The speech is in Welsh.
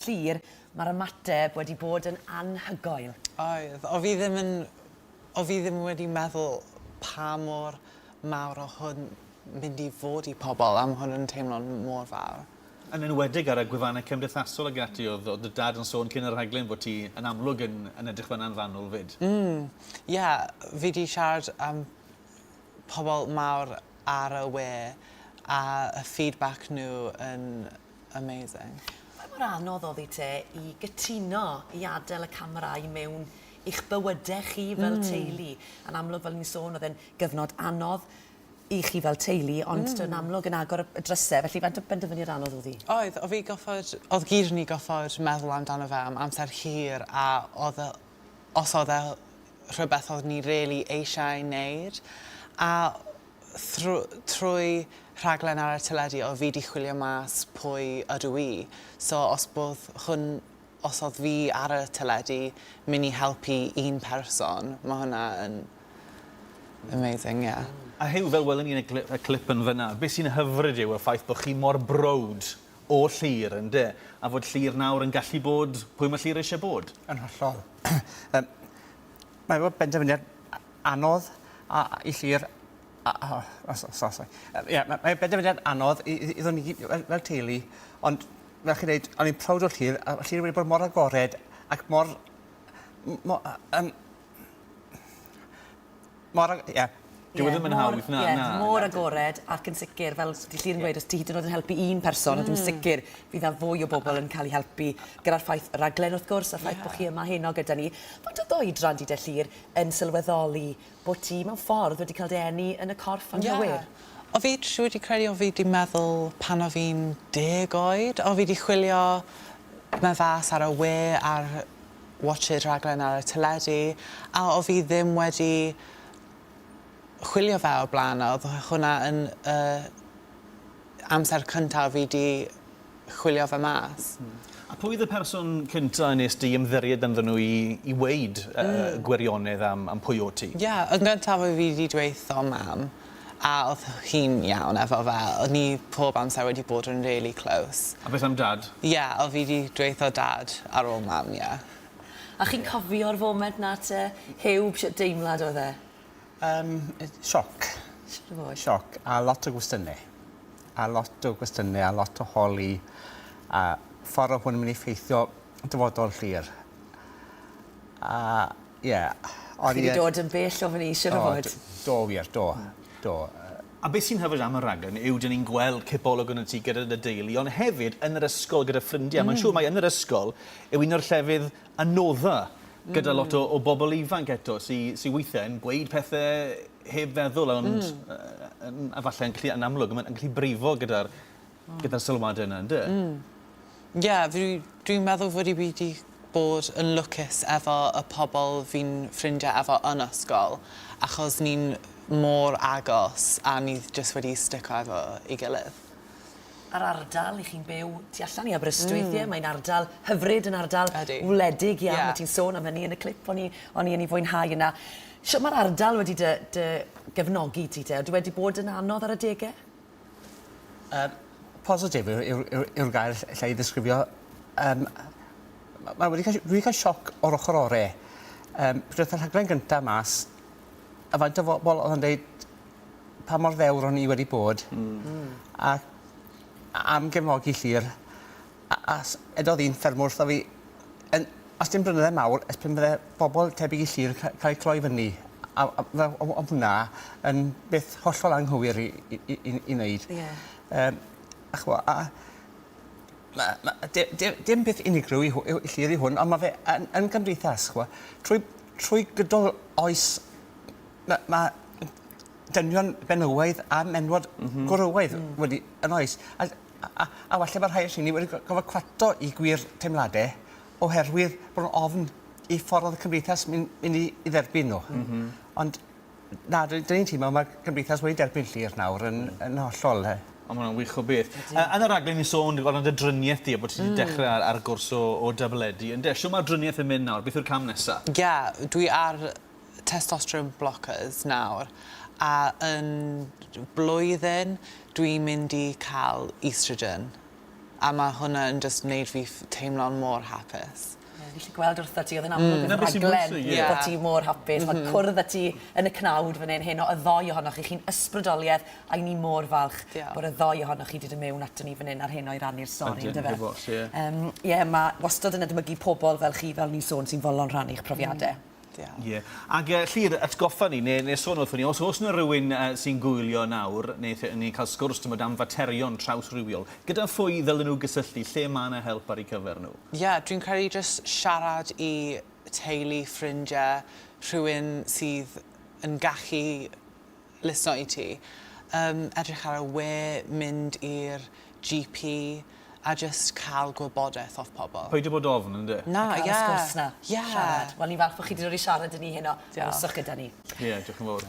Clir, mae'r ymateb wedi bod yn anhygoel. Oedd. O fi ddim yn... o fi ddim wedi meddwl pa mor mawr o hwn mynd i fod i pobl, am hwn yn teimlo mor fawr. Yn enwedig ar y gwefannau cymdeithasol ag ati, oedd oedd dy dad yn sôn cyn y rhaglen fod ti yn amlwg yn yn edrych fan'na'n fanwl 'fyd. Mm, ie, fi 'di siarad am pobl mawr ar y we a y feedback nhw yn amazing. Pa mor anodd oddi te i gytuno i adel y camera i mewn i'ch bywyde chi fel mm. teulu? Yn amlwg, fel ni'n sôn, oedd e'n gyfnod anodd i chi fel teulu, ond mm. yn amlwg yn agor y drysau, felly faint o benderfyniad anodd oedd hi? Oedd, oedd fi goffod, oedd gyd ni goffod meddwl amdano fe am amser hir, a oedd, e, os oedd e rhywbeth oedd ni really eisiau wneud, a trwy rhaglen ar y teledu oedd fi 'di chwilio mas pwy ydw i. So os bodd hwn, os odd fi ar y teledu myn' i helpu un person ma' hwnna yn amazing ie. A Huw fel welwn ni yn y gly- y clip yn fyn 'na be' sy'n hyfryd yw y ffaith bo' chi mor browd o Llyr ynde? A fod Llyr nawr yn gallu bod pwy ma' Llyr eisie bod. Yn hollol. Yym mae fel benderfyniad anodd a i llir a o o so so so ie ma' mae benderfyniad anodd i i i ddon i gyd fel fel teulu ond fel chi'n deud o'n i'n prowd o llir a llir wedi bod mor agored ac mor m- mo- yy yym mor ag- ie. Dyw e ddim yn hawdd na na na. Ie mor agored ac yn sicir fel s- 'di Llyr yn gweud os ti hyd yn o'd yn helpu un person wedyn sicir fydd 'na fwy o bobol yn ca'l 'u helpu gyda'r ffaith y raglen wrth gwrs a'r ffaith bo' chi yma heno gyda ni. Faint o'dd dy oedran di 'de Llyr yn sylweddoli bo' ti mewn ffordd wedi cael dy eni yn y corff anghywir? Ie. O' fi siŵr 'di credu o' fi 'di meddwl pan o' fi'n deg oed o' fi 'di chwilio ma' fas ar y we ar watch it raglen ar y teledu a o' fi ddim wedi chwilio fe o'r bla'n a odd hwnna yn yy amser cyntaf fi 'di chwilio fe mas. Hmm. A pwy oedd y person cynta' nes di ymddiried ynddyn nhw i i weud yy y gwirionedd am am pwy o't ti? Ie, yn gyntaf oedd fi 'di dweutho Mam, a oedd hi'n iawn efo fe, oedd ni pob amser wedi bod yn rili close. A beth am Dad? Ie, oedd fi 'di dweutho Dad ar ôl Mam, ie. A chi'n cofio'r foment 'na te? Huw, shwt deimlad oedd e? Yym sioc. Sioc a lot o gwestiyne. A lot o gwestiyne a lot o holi a ffor o hwn yn myn' i ffeithio dyfodol Llyr. A ie o'n i yy... Chi 'di dod yn bell ofon i siŵr o fod. O do do wir do do yy. A be' sy'n hyfryd am y raglen yw 'dyn ni'n gweld cipolwg yn y tŷ gyda dy deulu on' hefyd yn yr ysgol gyda ffrindie a ma'n siŵr mai yn yr ysgol yw un o'r llefydd anodda gyda lot o, o bobl ifanc eto sy, sy weithiau yn gweud pethau heb feddwl, ond mm. uh, a falle yn gallu, yn amlwg, yn gallu brifo gyda'r mm. gyda sylwadau yna, ynddo? Mm. Ie, yeah, dwi'n dwi meddwl fod i wedi bod yn lwcus efo y pobl fi'n ffrindiau efo yn ysgol, achos ni'n mor agos a ni jyst wedi stico efo i gilydd. a'r ardal, 'ych chi'n byw tu allan i Aberystwyth, ie, mae'n ardal hyfryd, yn ardal wledig iawn, yeah. ti'n sôn am hynny yn y clip o'n i, o'n i yn ei fwynhau yna. Sut mae'r ardal wedi dy, dy gefnogi ti te? Ydy wedi bod yn anodd ar y degau? Um, positif yw'r gair lle i ddisgrifio. Um, mae wedi cael, wedi cael sioc o'r ochr orau. Um, Pryd oedd y rhaglen gyntaf mas, a faint o bobl oedd yn dweud, pa mor ddewr o'n i wedi bod. Hmm. Hmm. A a am gefnogi Llŷr a a s- edodd un ffermwr wrtho fi yn os dim blynydde mawr ers pan bydde bobol tebyg i Llŷr ca- cael eu cloi fyny a a a fel o- o'dd hwnna yn beth hollol anghywir i i i i i neud. Ie. Yym a ch'mo' a ma' ma' yy di- di- dim peth unigryw i hw- yw i Llŷr yw hwn on' ma' fe yn yn gymdeithas ch'mo' trwy trwy gydol oes Ma' ma' m- dynion benywaidd a menywod... M-hm. ...gwrywaidd... Hmm. ...wedi... Yn oes? A d- a a a falle ma' rhai o rheini wedi go- gorfod cwato 'u gwir teimlade oherwydd bo' n'w ofn i ffor o'dd y cymdeithas myn' myn' i i dderbyn n'w. M-hm. Ond na 'dyn 'dyn ni'n teimlo ma'r cymdeithas wedi derbyn Llŷr nawr yn yn hollol yy. O ma' wnna'n wych o beth. Ydi. Yy yn y raglen ni'n sôn dy- amdan dy drinieth di a bo' ti 'di dechre ar ar gwrs o o dabledi ynde? Shw ma'r drinieth yn mynd nawr beth yw'r cam nesa? Ie dwi ar testosterone blockers nawr a yn blwyddyn dwi'n mynd i cael oestrogen a ma' hwnna yn jyst neud fi ff- teimlo'n mor hapus. Ie fi 'llu gweld wrtho ti o'dd e'n amlwg yn y rhaglen bo' ti mor hapus ma' cwrdd â ti yn y cnawd fyn 'yn heno y ddou ohonoch chi chi'n ysbrydolieth a 'yn ni mor falch bod y ddou ohonoch chi 'di dod mewn aton ni fyn 'yn ar heno i rannu'r stori on'd yfe? Ydyn. Ie. Yym ie ma' wastod yn edmygu pobol fel chi fel o'n i'n sôn sy'n fodlon rhannu'ch profiade. Diolch. Ie. Ac yy Llŷr, atgoffa ni, neu neu sôn wrthon ni, os oes 'na rywun yy sy'n gwylio nawr, neu lle ni'n cael sgwrs t'mod am faterion trawsrywiol, gyda phwy ddylen nhw gysylltu, lle mae 'na help ar eu cyfer nhw? Ie, dwi'n credu jyst siarad i teulu, ffrindie, rhywun sydd yn gallu Lyssno i ti. Yym, edrych ar y we, mynd i'r GP, a jyst cael gwybodaeth off pobl. Peidio bod ofn, ynde? Na, ie. A cael y sgwrs 'na. Ie. Siarad. Wel, ni'n falch bod chi 'di dod i siarad 'da ni heno. Diolch. Hapuswch gyda ni. Ie, diolch yn fowr.